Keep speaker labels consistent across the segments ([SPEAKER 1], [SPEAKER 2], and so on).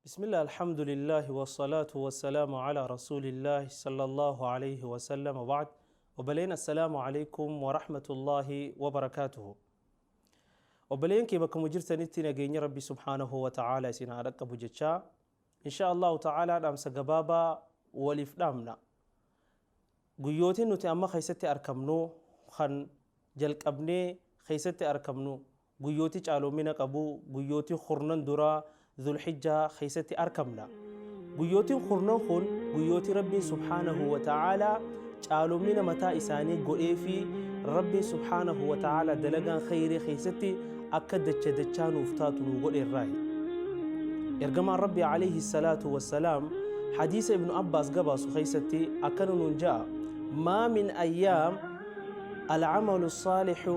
[SPEAKER 1] Bismillah Alhamdulillahi Wassalaatu Wassalaamu Ala Rasuulillahi Sallallahu Alayhi Wasallam Waba'ad Obboleen Assalaamu Alaykum Warahmatullahi Wabarakaatuhu Obboleen kee bakkuma jirtanitti nageenya Rabbi Subhaanahu Wa Ta'aala isin haa dhaqqabu jechaa Insha Allahu Ta'aala dhaamsa gabaabaa waliif dhaamna guyyootiin nuti amma keessatti arkamnu kan jalqabnee keessatti arkamnu Guyyooti caaloomina qabu guyyooti kurnan duraa Dhul-Hijjaa keessatti arkamna. Guyyootiin kurnan kun guyyooti Rabbiin subhaanahu wa ta'aalaa caaloomina mataa isaanii godheefii Rabbiin subhaanahu wa ta'aalaa dalagaan kheyrii keessatti akka dacha dachaa nuuf taatu nuu godhe irraahi. Ergamaan Rabbii alayhi salaatu wassalaam hadiisa Ibnu Abbaas gabaasu keessatti akkana nuun ja'a maa min ayyaam al-amalu saalihu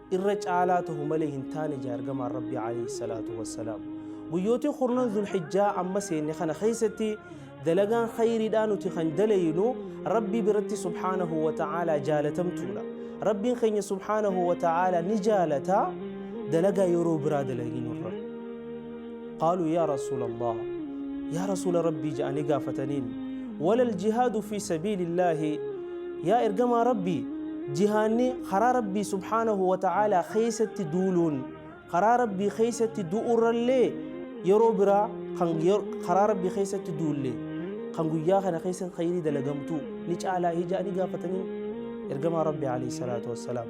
[SPEAKER 1] irra caalaa tahu malee hin taane jaa ergamaan rabbii alayhi salaatu wassalaam guyyootii kurnan zulhijjaa amma seenne kana keessatti dalagaan khayriidhaa nuti kan dalaynu rabbii biratti subhaanahu wa ta'aalaa jaalatamtuudha rabbiin keenya subhaanahu wa ta'aalaa ni jaalata dalagaa yeroo biraa dalaginurra Qaaluu yaa Rasuula Allaah Yaa Rasuula Rabbii ja'anii gaafataniin Walal jihaadu fii sabiili Allaahi Yaa Ergamaa Rabbii jihaanni karaa Rabbii subhaanahu wa ta'aalaa keessatti duuluun karaa Rabbii keessatti du'urrallee yeroo biraa kan karaa Rabbii keessatti duulle kan guyyaa kana keessa khayrii dalagamtu ni caalaa hii ja'anii gaafataniin Ergamaa Rabbii alayhi salaatu wassalaam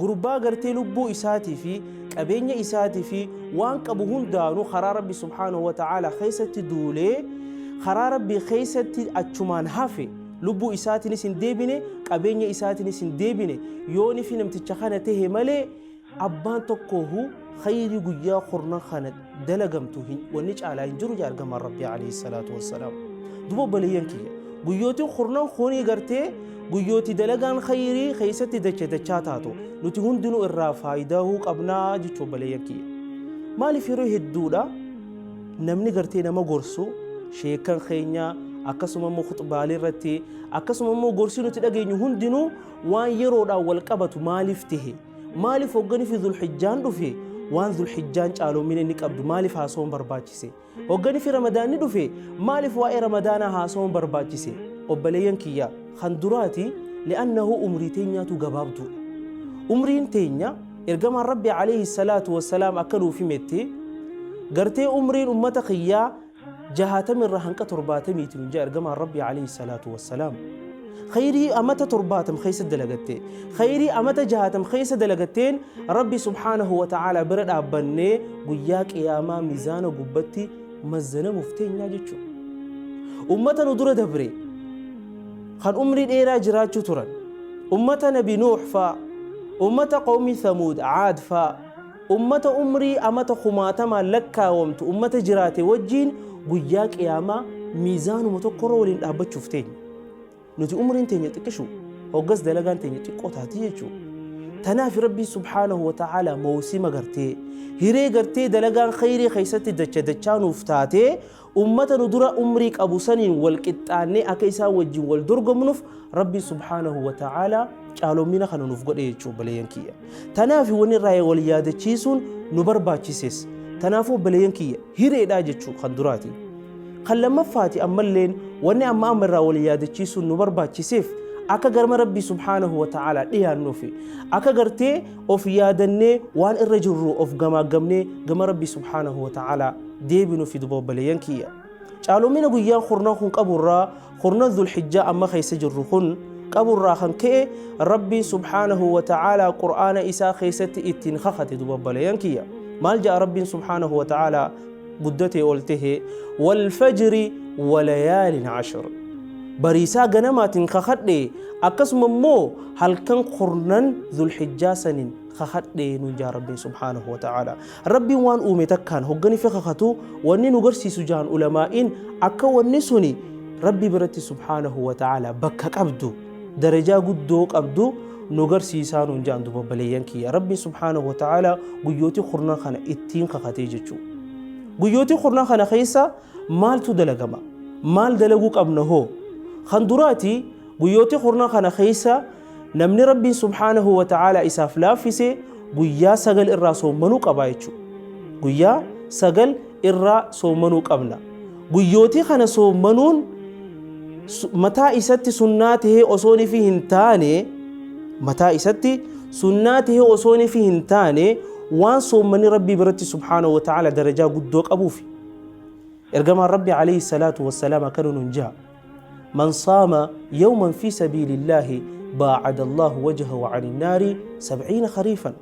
[SPEAKER 1] Gurbaa gartee lubbuu isaatii fi qabeenya isaatii fi waan qabu hundaanu karaa Rabbi subhaanahu wa ta'aala keessatti duulee karaa Rabbi keessatti achumaan hafe lubbuu isaatiinis hin deebine qabeenya isaatiinis hin deebine yoonifi namticha kana tahe malee abbaan tokkoohu khayrii guyyaa kurnan kana dalagamtu hin- wanni caalaa hin jiru jaa ergamaan rabbii alayhi salaatu wassalaam duba obboleeyyan kiyya guyyootiin kurnan kunii gartee guyyooti dalagaan khayrii keessatti dacha dachaa taatu nuti hundinuu irraa faayidahuu qabnaa jechuu obboleeyyan kiyya maaliif yeroo hedduudha namni gartee nama gorsu sheekan keenya akkasuma immoo khuxbaalee irratti akkasuma immoo gorsi nuti dhageenyu hundinuu waan yeroodhaan wal qabatu maaliif tahe Maaliif hoggani fi zulhijjaan dhufe waan zulhijjaan caaloomina inni qabdu maaliif haasawuun barbaachise? Hoggani fi ramadaanni dhufe maaliif waa'ee ramadaanaa haasawuun barbaachise? Obboleeyyan kiyya kan duraati li'annahu umrii teenyaatu gabaabduudha. Umriin teenya ergamaan Rabbi alayhi salaatu wassalaam akka nuuf himetti gartee umriin ummata kiyyaa 60 irraa hanqa 70 ti nun jee ergamaan Rabbii alayhi salaatu wassalaam. Khayrii amata 70 keessa dalagatte. Khayrii amata 60 keessa dalagatteen Rabbi subhaanahu wa ta'aalaa bira dhaabbannee guyyaa qiyaamaa mizaana gubbatti mazzanamuuf teenyaa jechuudha. Ummata nu dura dabre kan umrii dheeraa jiraachuu turan ummata nabi Nuuh faa ummata qawmii Thamuud Aad faa Ummata umrii amata kumaatamaan lakkaawamtu ummata jiraate wajjiin guyyaa qiyaamaa miizaanuma tokkorra waliin dhaabbachuuf teenya. Nuti umriin teenya xiqqishu hoggas dalagaan teenya xiqqoo taati jechuu. Tanaafi Rabbiin subhaanahu wa ta'aalaa mawsima gartee hiree gartee dalagaan khayrii keessatti dacha dachaa nuuf taatee Ummata nu dura umrii qabu saniin wal qixxaannee akka isaan wajjin wal dorgomnuuf Rabbiin subhaanahu wa ta'aalaa caalommina kana nuuf godhe jechuu obboleeyyan kiyya. Tanaaf wanni irraa wal yaadachiisuun nu barbaachises. Tanaafuu obboleeyyan kiyya hireedhaa jechuu kan duraati. Kan lammaffaati ammalleen wanni amma amma irraa wal yaadachiisuun nu barbaachiseef akka garma Rabbii subhaanahu wa ta'aalaa dhiyaannuufi akka gartee of yaadannee waan irra jirru of gamaaggamnee gama rabbi subhaanahu wa ta'ala deebinu fi duba obboleeyyan kiyya caalumina guyyaan kurnan kun qaburraa kurnan dhulhijjaa amma keessa jirru kun qaburraa kan ka'e rabbiin subhaanahu wa ta'ala qur'aana isaa keessatti ittiin kakate duba obboleeyyan kiyya maal ja'a rabbiin subhaanahu wa ta'ala guddatee ol tahe walfajri walayaalin cashir bariisaa ganamaatiin kakadhe akkasuma immoo halkan kurnan dhulhijjaa sanin kakadhe nuun jaa rabbiin subhaanahu wa ta'aala rabbiin waan uume takkaan hogganife kakatu wanni nu garsiisu jaan ulamaa'iin akka wanni suni rabbi biratti subhaanahu wa ta'aala bakka qabdu darajaa guddoo qabdu nu garsiisaa nuun jaan duba baleeyyan kiyya rabbiin subhaanahu wa ta'aala guyyootii kurnan kana ittiin kakatee jechuu guyyootii kurnan kana keessa maaltu dalagama maal dalaguu qabna hoo kan duraati guyyootii kurnan kana keessa namni rabbiin subhaanahu wa ta'aala isaaf laaffise guyyaa sagal irraa soommanuu qabaa jechuu guyyaa sagal irraa soommanuu qabna Guyyootii kana soommanuun mataa isatti sunnaa tahee osoo nifi hin taane mataa isatti sunnaa tahee osoo nifi hin taane waan soommanni rabbii biratti subhaanahu wa ta'ala darajaa guddoo qabuufi ergamaan rabbi alayhi salaatu wassalaam akkana nun jaha man saama yawman fi sabiilillaahi baacada allaahu wajhahu ani naari sabciina khariifan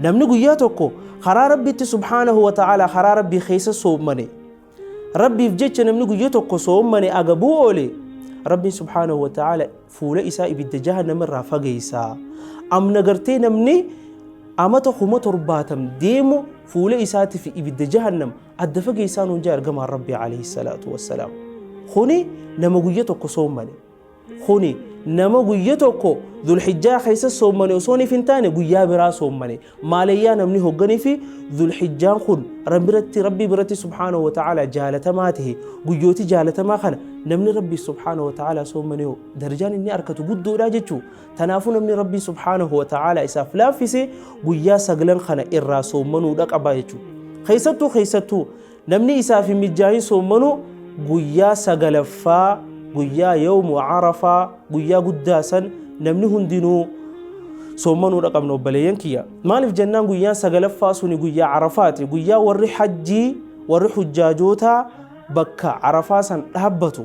[SPEAKER 1] Namni guyyaa tokko karaa Rabbiitti subhaanahu wa ta'aalaa karaa Rabbii keessa soommane Rabbiif jecha namni guyyaa tokko soommane agabuu oole Rabbiin subhaanahu wa ta'aala fuula isaa ibidda jahannama irraa fageessa. Amna gartee namni amata kuma torbaatam deemu fuula isaatiif ibidda jahannam adda fageessaan hundaa ergamaan Rabbii alayhi salaatu wassalaam. Kuni nama guyyaa tokko soommane. kuni nama guyya tokko dhulhijjaa keessa soommane osooniif hin taane guyyaa biraa soommane maalayyaa namni hogganii fi dhulhijjaan kun rabbiratti rabbii biratti subhaanahu wa ta'ala jaalatamaa ta'e guyyooti jaalatamaa kana namni rabbii subhaanahu wa ta'ala soommane hoo darajaan inni arkatu guddoodha jechuu tanaafuu namni rabbii subhaanahu wa ta'ala isaaf laaffise guyyaa saglan kana irraa soommanuudha qaba jechuu keessattuu keessattuu Namni isaaf hin mijjaahin soommanu guyyaa sagalaffaa guyyaa yawmu arafaa guyyaa guddaa san namni hundinuu soommanuudha qabna obboleeyyan kiyya. Maaliif jennaan guyyaan sagalaffaa suni guyyaa arafaati guyyaa warri hajjii warri hujjaajootaa bakka arafaa san dhaabbatu.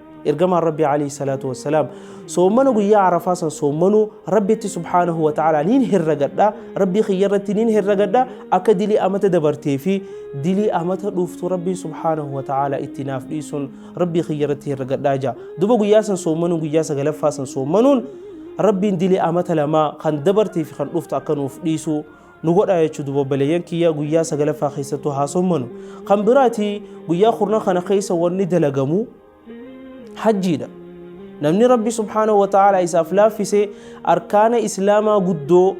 [SPEAKER 1] Ergamaan Rabbii alayhi salaatu wassalaam soommana guyyaa Arafaa san soommanuu Rabbitti subhaanahu wa ta'ala niin herregadha Rabbii kiyya irratti niin herregadha akka dilii amata dabartee fi dilii amata dhuftu Rabbiin subhaanahu wa ta'ala itti naaf dhiisun Rabbii kiyya irratti herregadha jaa duba guyyaa san soommanuun guyyaa sagalaffaa san soommanuun Rabbiin dilii amata lamaa kan dabartee fi kan dhuftu akka nuuf dhiisu nu godhaa jechuu duba obboleeyyan kiyya guyyaa sagalaffaa keessattuu haa sommanu kan biraati guyyaa kurnan kana keessa wanni dalagamu hajjiidha namni rabbi subhaanahu wa ta'aalaa isaaf laaffise arkaana islaamaa guddoo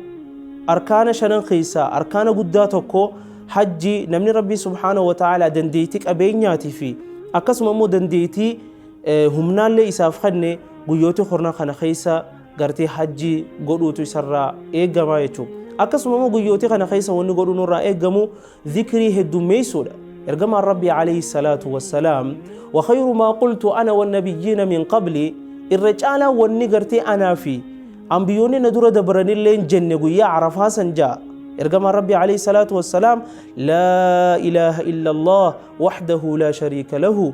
[SPEAKER 1] arkaana shanan keessaa arkaana guddaa tokko hajji namni rabbi subhaanahu wa ta'aalaa dandeettii qabeenyaatii fi akkasuma immoo dandeettii humnaallee isaaf kenne guyyoota kurnan kana keessa gartee hajjii godhuutu isarraa eegamaa jechuudha. Akkasuma immoo guyyootii kana keessa wanni godhuu nurraa eegamu zikrii heddummeessuudha. Ergamaan Rabbii alayhi salaatu wassalaam wa khayru maa qultu ana wan nabiyyiina min qabli irra caalaa wanni gartee anaa fi anbiyoonni na dura dabranilleen jenne guyyaa arafaa san ja'a. Ergamaan Rabbii alayhi salaatu wassalaam laa ilaaha illallah wahdahu laa shariika lahu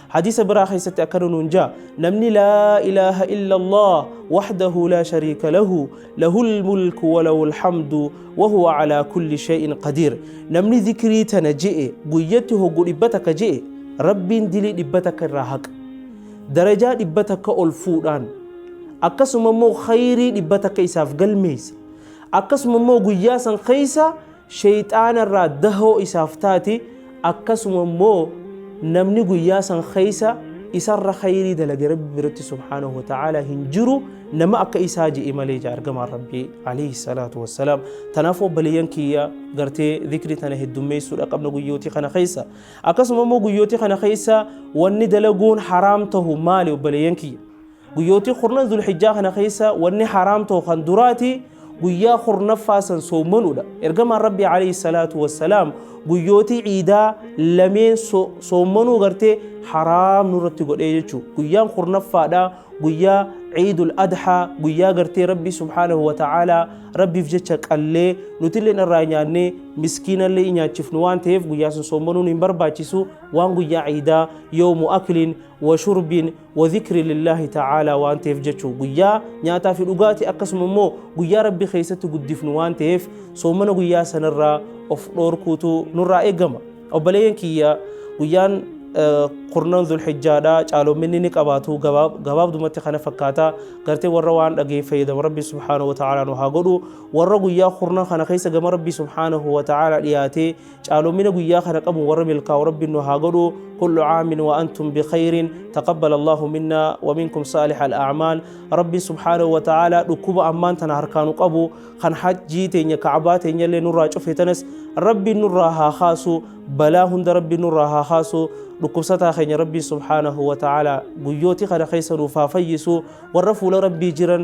[SPEAKER 1] Hadiisa biraa keessatti akkana nuun jaa namni laa ilaaha illa Allah wahdahu laa shariika lahu lahul mulku wa lahul hamdu wa huwa alaa kulli shay'in qadiir namni zikrii tana je'e guyyatti hoggu dhibba takka je'e rabbiin dilii dhibba takka irraa haqa darajaa dhibba takka ol fuudhaan akkasuma immoo khayrii dhibba takka isaaf galmeessa akkasuma immoo guyyaa san keessa sheyxaana irraa dahoo isaaf taati, akkasuma immoo namni guyyaa san keessa isarra khayrii dalage Rabbi biratti subhaanahu wa ta'aalaa hin jiru nama akka isaa je'e malee jaa ergamaan Rabbi alayhi salaatu wassalaam. Tanaaf obboleeyyan kiyya gartee dhikri tana heddummeessuudha qabna guyyootii kana keessa. Akkasuma immoo guyyootii kana keessa wanni dalaguun haraam tahu maali obboleeyyan kiyya? Guyyootii kurnan Zulhijjaa kana keessa wanni haraam ta'u kan duraati guyyaa kurnaffaa san soomanuudha. Ergamaan Rabbii alayhi salaatu wassalaam guyyootii ciidaa lameen soomanuu gartee haraam nurratti godhee jechuudha. Guyyaan kurnaffaadha guyyaa ciidul adhaa guyyaa gartee Rabbii subhaanahu wa ta'aalaa Rabbiif jecha qallee nutilleen irraa nyaannee miskiinallee nyaachifnu waan ta'eef guyyaa sun soomanuun hin barbaachisu waan guyyaa ciidaa yoomu akliin wa shurbiin wadhikri lillaahi ta'aalaa waan ta'eef jechu guyyaa nyaataa fi dhugaati akkasuma immoo guyyaa rabbi keessatti guddifnu waan ta'eef soomana guyyaa sanarraa of dhoorkuutu nurraa eegama obboleeyyan kiyya guyyaan kurnan zulhijjaadha caaloominni ni qabaatu gabaabdumatti kana fakkaata gartee warra waan dhagee fayyadamu rabbi subhaanahu wa ta'aalaa nu haa godhu warra guyyaa kurnan kana keessa gama rabbi subhaanahu wa ta'aalaa dhiyaatee caalomina guyyaa kana qabu warra milkaa'u rabbiin nu haa godhu kullu caamin wa antum bikhayrin taqabbal allahu minna wa minkum saalih al'acmaal rabbiin subhaanahu wa ta'aalaa dhukkuba ammaan tana harkaanu qabu kan hajjii teenya kacbaa teenya illee nurraa cufe tanas rabbiin nurraa haa kaasu balaa hunda rabbiin nurraa haa kaasu dhukkubsataa keenya rabbiin subhaanahu wa ta'aalaa guyyooti kana keessa nuuf haa fayyisu warra fuula rabbii jiran